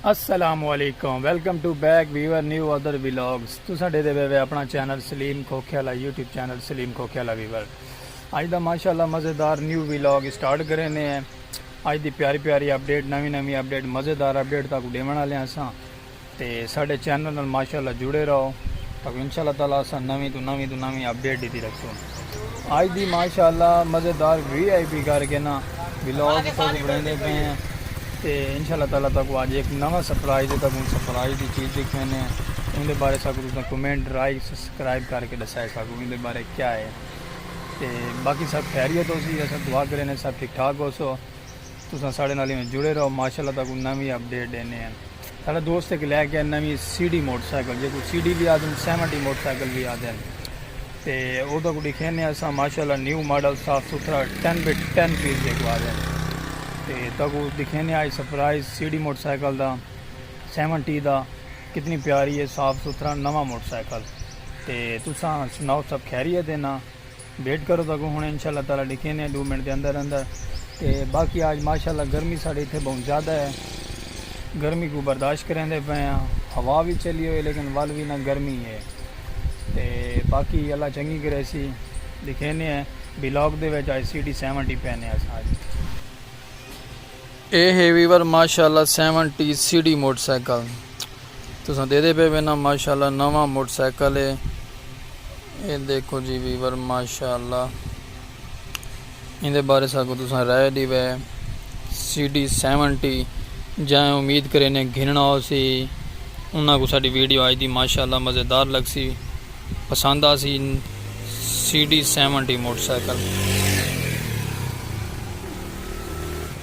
السلام علیکم welcome to back viewer new other vlogs تساں ڈیدے وے وے اپنا channel Saleem Khokhiala YouTube channel Saleem Khokhiala viewer اج دا ماشاءاللہ مزیدار نیو ویلاگ سٹارٹ کرینے ہیں اج دی پیاری پیاری اپڈیٹ نوی نوی اپڈیٹ مزیدار اپڈیٹ تاکو ڈیون والے ہساں تے ساڈے چینل نال ماشاءاللہ جڑے رہو تاکو انشاء اللہ تعالی اساں نویں توں نویں توں نویں اپڈیٹ ڈیتی رکھسوں اج دی ماشاءاللہ مزیدار وی آئی پی کر کے نا ولاگ تاکو بنیندے پئے ہیں تے انشاء اللہ تعالی تاکو اج ایک نواں سرپرائز ہے تاکو سرپرائز دی چیز دیکھنے نے ان دے بارے ساکو تساں کمنٹ لائک سبسکرائب کر کے دسائے ساکو ان دے بارے کیا ہے تے باقی سب خیریت ہو سی اساں دعا کرے نے سب ٹھیک ٹھاک ہو سو تساں ساڑے نال ایویں جڑے رہو ماشاءاللہ تہاکوں نویں اپ ڈیٹ ڈینے ہیں ساڑا دوست ہک لے کے آیا نویں سی ڈی موٹر سائیکل جیکوں سی ڈی وی آدھن سیونٹی موٹر سائیکل وی آدھن تے او تہاکوں ڈکھینے ہیں اساں ماشاءاللہ نیو ماڈل صاف ستھرا ٹین بی ٹین پیس جیکوں آدھن تے تہاکوں ڈکھینے ہیں آج surprise C D motorcycle دا سیونٹی دا کتنی پیاری ہے صاف ستھرا نواں موٹر سائیکل تے تساں سناؤ سب خیریت ہے نا۔ ویٹ کرو تو اگوں ہن انشاءاللہ تعالی ڈکھینے ہیں ڈو منٹ دے اندر اندر تے باقی آج ماشاءاللہ گرمی ساڈے اتھے بہوں زیادہ ہے گرمی کو برداشت کریندے پئے ہاں ہوا وی چلی ہوئی لیکن ول وی نہ گرمی ہے تے باقی اللہ چنگی کریسی ڈکھینے ہیں بلاک دے وچ آج سی ڈی سیونٹی پینے اساں آج اے ہے ویور ماشاءاللہ seventy C D motorcycle تساں ڈیدے پئے وینا ماشاءاللہ نواں موٹر سائیکل اے اے دیکھو جی ویور ماشاءاللہ ایندے بارے ساکوں تساں رائے ڈیوے سی ڈی سیونٹی جائیں امید کرینے گھننا ہو سی انہاں کو ساڈی ویڈیو آج دی ماشاءاللہ مزیدار لگ سی پسند آ سی C D seventy motorcycle.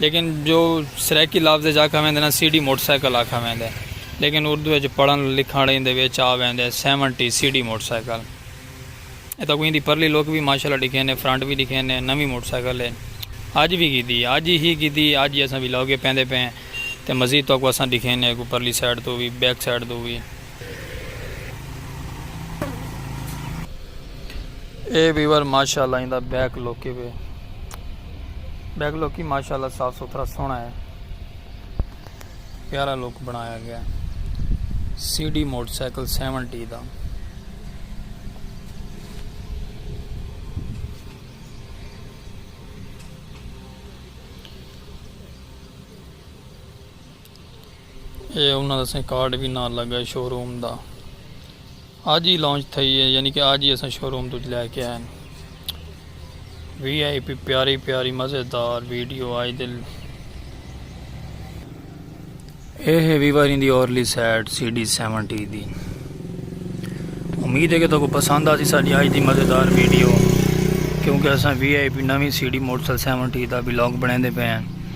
لیکن جو سرائیکی لفظ اچ آکھا ویندے نا سی ڈی موٹر سائیکل آکھا ویندے لیکن اردو اچ پڑھن لکھن ایں دے وچ آ ویندے seventy C D motorcycle اے تاکوں ایں دی پرلی لک وی ماشاءاللہ ڈکھین اے فرنٹ وی ڈکھین اے نویں موٹر سائیکل اے اج وی گھدی اے اج ہی گھدی اے اج ہی اساں ویلاگ پیندے پئے ہیں تے مزید تاکوں اساں ڈکھین اے اگوں پرلی سائیڈ توں وی بیک سائیڈ توں وی۔ اے ویور ماشاءاللہ ایندا بیک لوکی وے بیک لوکی ماشاءاللہ صاف ستھرا سونا ہے پیارا لوک بنایا گیا C D motorcycle seventy دا اے انہاں دا سائیں کارڈ وی نال لگا ہے شو روم دا اج ہی لانچ تھئی ہے یعنی کہ اج ہی اساں شو روم تج لے کے آئے وی آئی پی پیاری پیاری مزیدار ویڈیو آئی دل اے ہے ویواری دی اورلی سیٹ سی ڈی سیون ٹی دی امید ہے کہ تو کو پسند آسی ساڑی آج دی مزیدار ویڈیو کیونکہ اساں وی آئی پی نوی C D motor seventy دا بلاگ بنے دے پہ ہیں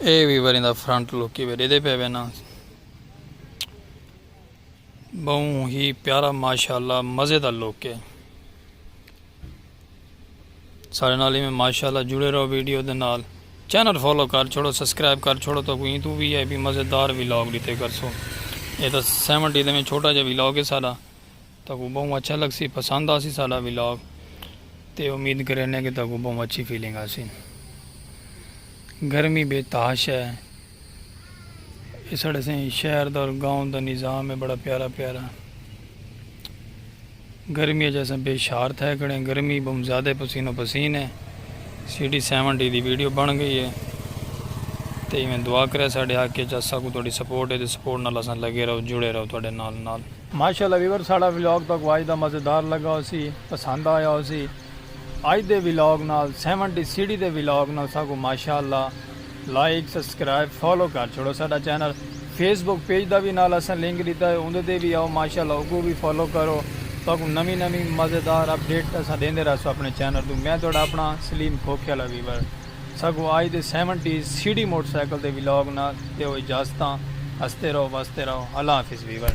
اے وی وریں دا فرنٹ لک ہی ڈیدے پے وینا بہوں ہی پیارا ماشاءاللہ مزے دا لک ہے سارے نال میں ماشاءاللہ جڑے رہو ویڈیو دے نال چینل فالو کر چھوڑو سبسکرائب کر چھوڑو تو کوئی تو وی آئی پی مزے دار ویلاگ ڈیتے کرسو اے تا 70 دے میں چھوٹا جا ویلاگ ہے سارا تہاکوں بہوں اچھا لگسی پسند آسی ساڈا ولاگ تے امید کرینے کہ تہاکوں بہوں اچھی فیلنگ آسی گرمی بے تحاش ہے اے ساڈے سائیں شہر دا اور گاؤں دا نظام ہے بڑا پیارا پیارا گرمی اچ اساں بے شار تھے کھڑے گرمی بہوں زیادہ پسین و پسین ہے سی ڈی سیون ڈی دی ویڈیو بن گئی ہے تے ایویں دعا کرے ساڈے حق اچ اساکوں تہاڈی سپورٹ ہے تے سپورٹ نال اساں لگے رہو جڑے رہو تہاڈے نال نال ماشاءاللہ ویورز ساڑا ولاگ تہاکوں اج دا مزیدار لگا ہوسی پسند آیا ہوسی اج دے ولاگ نال سیون ٹی سیڑھی دے ولاگ نال ساکوں ماشاءاللہ لائک سبسکرائب فالو کر چھوڑو ساڈا چینل فیس بک پیج دا وی نال اساں لنک ڈتا ہے اوندے تے وی آؤ ماشاءاللہ اوکوں وی فالو کرو تہاکوں نویں نویں مزیدار اپڈیٹ اساں ڈیندے رہسوں اپنے چینل توں میں تہاڈا اپنا سلیم کھوکھے آلا ویور ساکوں اج دے سیون ٹی سیڑھی موٹر سائیکل دے ولاگ نال دیو اجازتاں ہستے رہو وستے رہو اللہ حافظ ویور۔